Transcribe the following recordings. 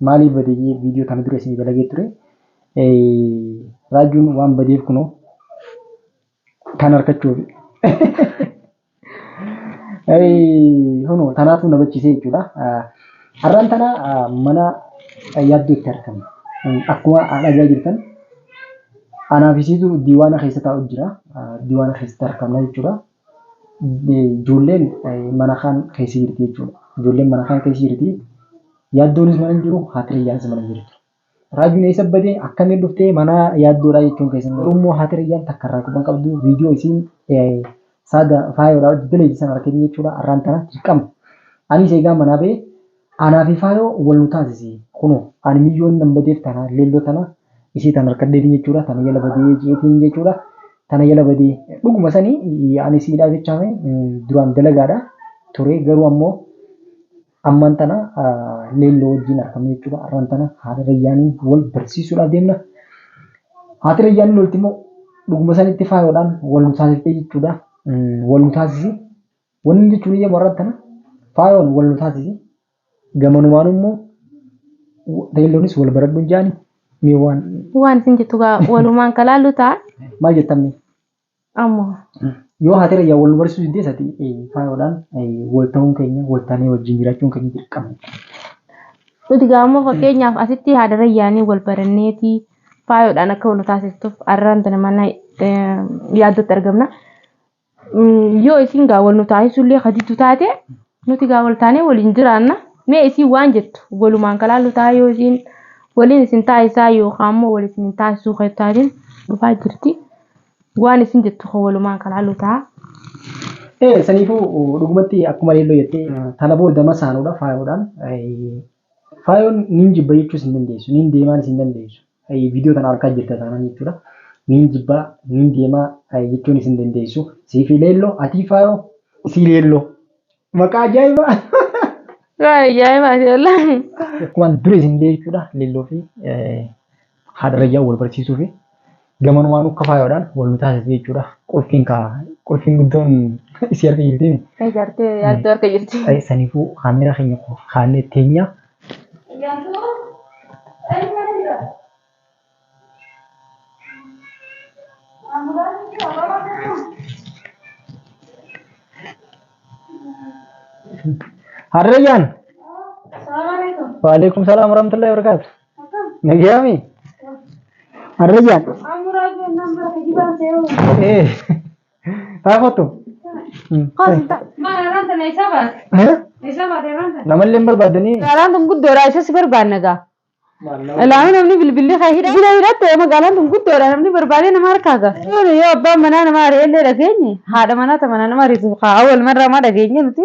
Maaliif bade jee viidiyoo tana dura isinii dalagee ture. Raajuun waan badeef kunoo tan harkachuufi. Kunoo tanaatu na bachisee jechuudha. Har'aan tana mana yaaddootti argama. Akkuma dhagaa jirtan anaa fi siitu diiwaana keessa taa'u jira. Diiwaana keessatti argamna jechuudha. ijoolleen mana kaan keessa jirti jechuudha. Ijoolleen mana kaan keessa jirti. Yaaddoonis mana hin jiru, haati Rayyaanis mana hin jirtu. Raajuun eessa bade? Akkamiin dhufte? Mana yaaddoodhaa jechuun keessan garuu immoo haati Rayyaan takka irraa quba hin qabdu. Viidiyoo isiin saada faayoodhaa hojjettee leenjisan argitanii jechuudha. Har'aan tana dirqama. Anis eegaa manaa ba'ee Anaa fi faayoo wal nu taasisi kunoo ani miyyoon nan badeef tana leelloo tana isii tan harkaddeetiin jechuudha tana jala badee jeetiin jechuudha tana jala badee dhuguma sani ani isiidhaa jechaame duraan dalagaadha turee garuu ammoo ammaan tana leelloo wajjiin arkamne jechuudha arraan tana haati rayyaaniin wal barsiisuudhaaf deemna haati rayyaaniin lolti immoo dhuguma sanitti faayoodhaan wal nu taasiftee jechuudha wal nu taasisi Wanni jechuun iyya warra tana faayoon wal nu taasise gamanumaan immoo beeyloonis wal baradhuun jaani mee waan Waan isin jettu gaa walumaan kalaallu ta'a. maal jettamne Ammoo yoo haatira iyyaa wal nu barsiisuu didde isati faayoodhaan wal ta'uun keenya wal taanee wajjin jiraachuun keenya dirqama. nuti gaa ammoo fakkeenyaaf asitti haadara yaanii wal baranneeti faayoodhaan akka wal nu taasiftuuf arraan tana mana eh, yaaddootti argamna. yoo isin gaa wal nu taasisullee haditu taate nuti gaa wal taanee waliin jiraanna mee isin waan jettu walumaan kalaallu taa yoo isin waliin isin taasisaa yookaan immoo wal isin hin taasisuu kan taatiin dhufaa jirti waan isin jettu kan walumaan kalaallu taa. Ee saniifuu dhugumatti akkuma leelloo jettee tana booda masaanuudha faayoodhaan Faayoon niin jibba jechuus hin dandeessu. Niin deemaanis hin dandeessu. Viidiyoo tana arkaa jirta taanaan jechuudha. Niin jibbaa, niin deemaa jechuunis hin dandeessu. Siifi leelloo, atii faayoo, isii leelloo. Maqaa ajaa'ibaa! Waa ajaa'ibaati wallahi. Akkuma dura isin illee jechuudha leelloo fi haadha rayyaa wal barsiisuu fi gamanumaanuu akka faayoodhaan wal nu taasise jechuudha. Qulfiin kaa qulfiin guddoon isii harka jirti. Ee jaartee yaaddoo harka jirti. Ee saniifuu kaamera keenya kaannee teenya. Haadha rayyaan. Waalaikum salaam warahmatullahi wabarakatuh. Nagayami. Arrajaan. Eh. Taakotu. Namallee hin barbaadanii. Magaalaan tun guddoodha isa si barbaanna gaa. Ilaalu namni bilbilli kan hidha. Bilbila hidhatte magaalaan tun guddoodha namni barbaadee nama harkaa gaa. Yoo yoo abbaan manaa nama ari'ellee dhageenye haadha manaa ta manaa nama ariitu haa awwal marraa maa dhageenye nuti.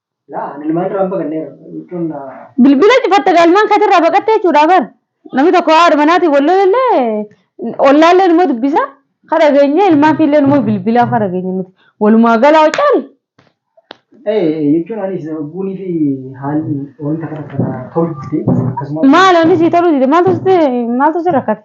Laa ani ilmaan irraa hin baqanneera jechuun Bilbila cufatte gaa ilmaan keetii irraa baqatte jechuudha bar. Namni tokko haadha manaatiin wal lolellee ollaallee numa dubbisa. Ka dhageenye ilmaan fiillee numa bilbilaa ka dhageenye nuti. Walumaa galaa caali. ee jechuun anis buunii fi haalli wanta kana kana tolchite akkasumas Maal ani sii toluu dide maaltu sitti maaltu si rakkate?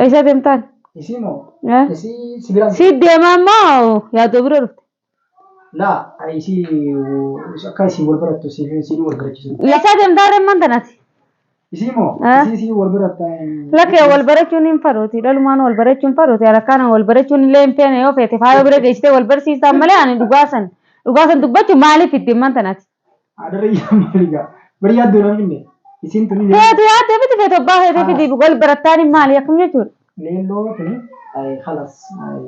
Eessa deemtaan? Isii moo? Eh? Isii si biraan Si deemaa moo yaadoo bira dhufte? laa isii akka isii wal barattu si si wal barachiisu. Eessaa deemtaa remman tanati? Isii moo? Eh? Isii si wal baratta. Lakkee wal barachuun hin fadooti. Dhalumaan wal barachuun fadooti. Alakkaana wal barachuun illee hin feene yoo feete faayoo bira geessitee wal barsiistaan malee ani dhugaasan dhugaasan dubbachu maaliif itti himman tanati? Adarra yaa maali gaa. Bari yaaddoo na finne. Isiin tuni leelloo. Feetu yaaddoo miti feetu abbaa feetee Ah. fidii wal barattaan hin maali akkam jechuudha. Leelloo tuni. Ay khalas. Ay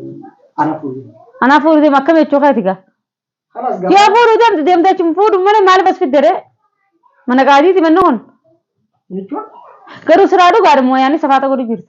ana fuudhi. Anaa fuudhu deema akkam jechuu keeti gaa. Khalas gaa. Yoo fuudhu deemtu deemtee achi fuudhu malee maaliif as fidde ree? Mana qaadiiti manni kun. Jechuun. Garuu siraa dhugaadha mooyaanii safaata godhu jirtu.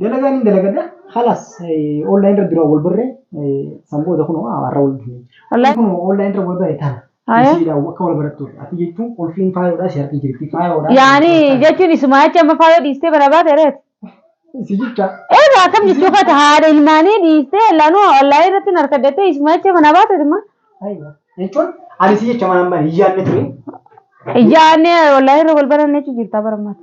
Dalagaan hin dalagadha. Halas online irra duraan wal barree san booda kun har'a wal dhufne. Wallahi. Kun online irra wal barre tana. Aya. Isiidha akka wal barattuuf. Ati jechuun qulfiin faayoodha si harki jirti faayoodha. Yaani jechuun isuma jecha amma faayoo dhiistee mana baate reet. Si jecha. Eegaa akkam jechuu kata haadha ilmaanii dhiistee laanuu online irratti hin harkaddattee isuma jecha mana baate dhimma. Aywa. Jechuun ani si jecha manaan bane hin yaadne ture. Yaani online irra wal baranne jechuu jirtaa barammaati.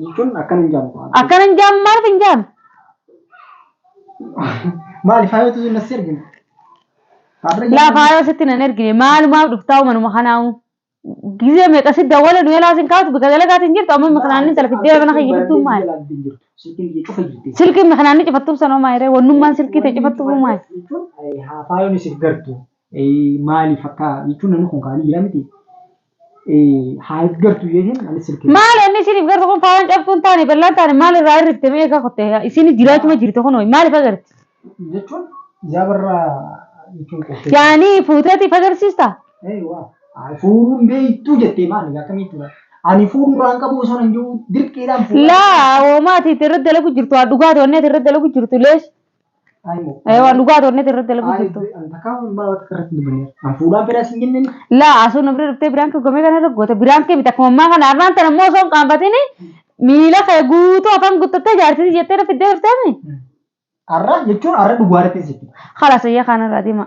Jechuun akkana hin jaamu. Akkana hin jaamu maaliif hin jaamu? Maali faayoo tuzuun as ergina. Laa faayoo sitti nan ergine maalumaaf dhuftaa'u manuma kanaa'u. Gizee meeqa si dawwala nu yalaa sin kaatu bika dalagaati hin jirtu amma mikinaanni intala fiddee mana kee jirtu maali? Silkiin mikinaanni cifattuuf sanoo maayiree wannummaan silkii ta'e cifattuuf maali? Faayoon isif gartu maaliif akka jechuun namni kun kaanii jira miti. haa gartu jechuun ani silkii. Maal inni isiniif gartu kun faayaan cabxuu hin taane bal'aan taane maal irraa hir'ifte mee egaa kotte isin jiraachuma jirte kun maaliif agarti? Jechuun yaa barra jechuun qoftee. Yaani fuuteeti if agarsiista? Ee waa. Fuudhuun beektuu jettee maal akkamitti bara. Ani fuudhuu irraa hin qabu osoo hin jiru dirqiidhaan fuudhaa. Laa hoomaa ati itti irratti dalagu jirtu haa dhugaatu wanni ati irratti dalagu jirtu lees. Ayimoo. Eh, waan dhugaa toonnet irratti dalaguu jirtu. Antakaa waan maal akka irratti dubbannee. An fuudhaan fedhaa siin jenneen. Laa asuu na bira dhuftee biraan kee gomee kana irra goota biraan kee miti akkuma ammaa kana har'aan tana immoo osoo hin qaanfatiin miila kee guutuu afaan guuttattee jaartii jettee na fiddee dhufteemi. Arra jechuun arra dhugaa irratti sitti. Khalas ayyaa kaana irraa deema.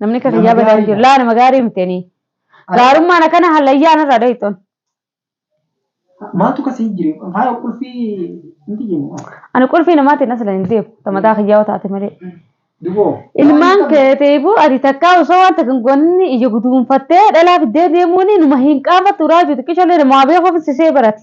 Namni akka Nama kiyyaa badaa hin jiru. gaariidha. Laa nama gaarii miteeni. Ati- Gaarummaan akkana hallayyaa narraa dhoyxoon. Maaltu kasii jire? Faaya qulfii miti jennu. Ani qulfii namaatiin asla hin deemu. Tamataa kiyyaa yoo taate malee. Duboo. Ilmaan keetiifu ati takkaa osoo waan takka hin goonne ija guduunfattee dhalaa fiddee deemuun numa hin qaanfattu raajuu xiqqishallee namaa beekuuf sisee barate.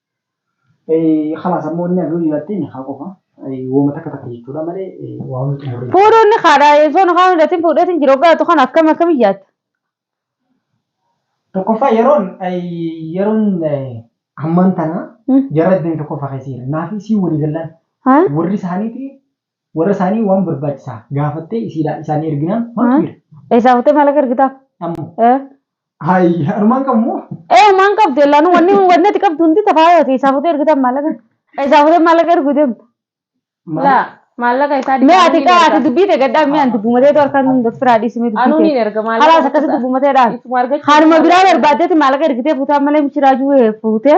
Khalaas ammoo inni hafe hojii laattiin haa qofa. Wooma takka takka jechuudha malee waa hunda xumurree. Fuudhuun ni kaadha yeessoon afaan hundaatiin fuudheetiin jira hoggaa jettu kana akkam akkam iyyaata. Tokkoffaa yeroon yeroon hammaan tana jarra deemee tokkoffaa keessa jira. Naafii sii walii gallaan warri isaaniiti Warra isaanii waan barbaachisaa gaafattee isiidhaa isaanii erginaan maaltu jira? Eessaa fuutee maallaqa ergitaaf? Ammoo. Eh. Hayi anumaan qabmoo. Eh maan qabdu ellaanu wanni wanni ati qabdu hundi tafaayooti eessaa fuutee ergitaaf maallaqa? Eessaa fuutee maallaqa ergu deemta? La maallaqa isaa Mee ati dibaanii kaa ati erga. dubbii teegadhaa mee ani dubbumatee too harkaan hunda firaa dhiisimee dubbii Anuu ni tee. erga maallaqa. Halaas akkasii dubbumateedhaan. Isuma argachuu Haaluma biraa barbaaddeeti maallaqa ergitee fuutaan malee mishiraajuu fuutee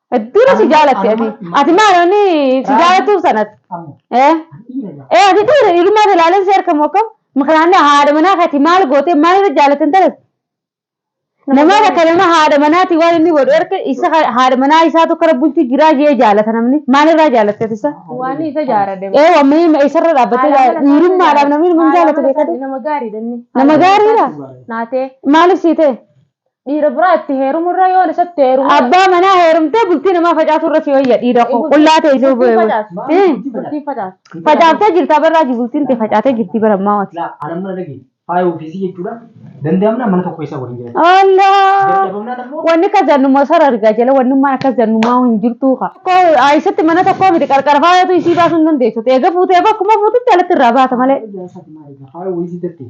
Hedduudha si jaalatti ati. Ati maal ani si jaalatuuf sanatti. Eh? Eh ati dhiira dhiirummaa si ilaaleen si harkamu akkam? Makanaanni haadha manaa kati maal gootee maal irra jaalatti hin talas? Namaa takka nama haadha manaati waan inni godhu erga isa haadha manaa isaatu kara bulti jiraa jee jaalata namni maal irraa jaalatte ati isa? Waan isa jaarade. Eh wammanii ma isarra dhaabbattee jaala- dhiirummaadhaaf namni nama hin jaalatu beekadhu. Nama gaariidha inni. Nama gaariidha. Naatee. Maaliif sii ta'e? Dhiira biraa itti heerumurra yoon isatti heerumu. Abbaa manaa heerumtee bultii namaa facaasurra si wayya dhiira koo qullaa ta'e isin Bultiin bu'e. facaasu. Eh, Bultiin facaasu. Facaaftee jirta barraa ji bultiin tee facaatee jirti bara ammaa wati. Laa anan mana dhagi faaya ofiisii jechuudha danda'amnaan mana tokko keessa waliin jiraatu. Allah! Dadhabamnaan ammoo Wanni akka zannuma sara argaa jala wannummaan akka zannumaa hin jirtuu ka. Tokko aayisatti mana tokkoo miti qarqara faayatu isii baasuu hin dandeessu. Eega fuutee bakkuma fuututti alatti irraa baata malee. Faaya ofiisii jettee.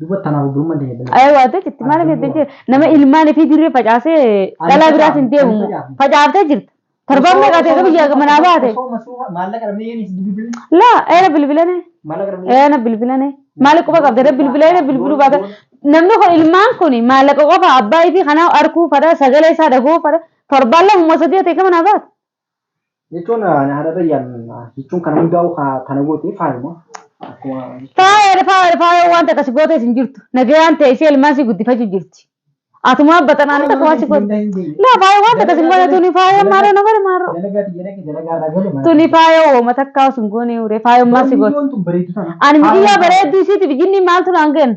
Duba tanaaf obbolummaan teenya bina. Ayee waan ta'e jirti maal beekte jee nama ilmaan ifii dirree facaasee dhalaa biraas hin deemu moo facaaftee jirta torbaan meeqa ta'e biyya manaa baate Osoo masuufa maallaqa dhabnee yeen isin bilbilne. laa eena bilbilane Maallaqa dhabnee. eena bilbilane maali quba qabda na bilbila eena bilbiluu baata namni kun ilmaan kun maallaqa qofa abbaa ifii kanaa arkuu fadha sagalee isaa dhagoo fadha torbaan lama moo sadii ta'e manaa baate jechuun haadha rayyaan jechuun kana hundaa'u kana goote faayuma akkuma Faayaan faayaan faayaan wanta akkasi gootees hin jirtu. Nagayaan teessee ilmaan si guddifachuu jirti. Atumaa baxanaanii takka waan si gootu. Laa faayaan wanta akkasi hin goone tuni faayaan maaroo na godhe maaroo. dalagaa xiyya dhaqe dalagaa irraa gale mana Tuni faayaan wooma takka osoo hin goone uree faayaan maal si gootu. Wanti kun bareedu tana. Ani miidiyyaa bareedduu isiitiif jinni maaltu naan kenna.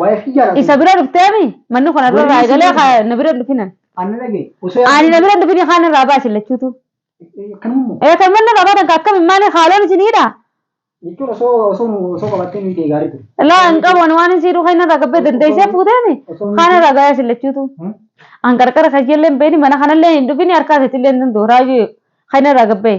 Waa'ee kiyyaa laata? Isa bira dhufteemi manni kun irra Waliin irraa eegalee isin haa- na bira hin dhufinan. Anna dhagee. Osoo Ani na bira hin dhufini kaan irraa baasi lachuutu. Kanummoo. Ee kan manni irraa baatan kan akkami maali haaloon isin hidha? Jechuun osoo osoo nu osoo qabattee nuyi ta'e gaarii ture. Laa hin qabu ani waan isin hidhu kan irraa gabbee dandeessee fuuteemi Osoo kaan irraa gayaa isin lachuutu. Hmm? An qarqara kan illee hin beekni mana kanallee hin dhufini harkaa keetillee hin danda'u raayyu kan irraa gabbee.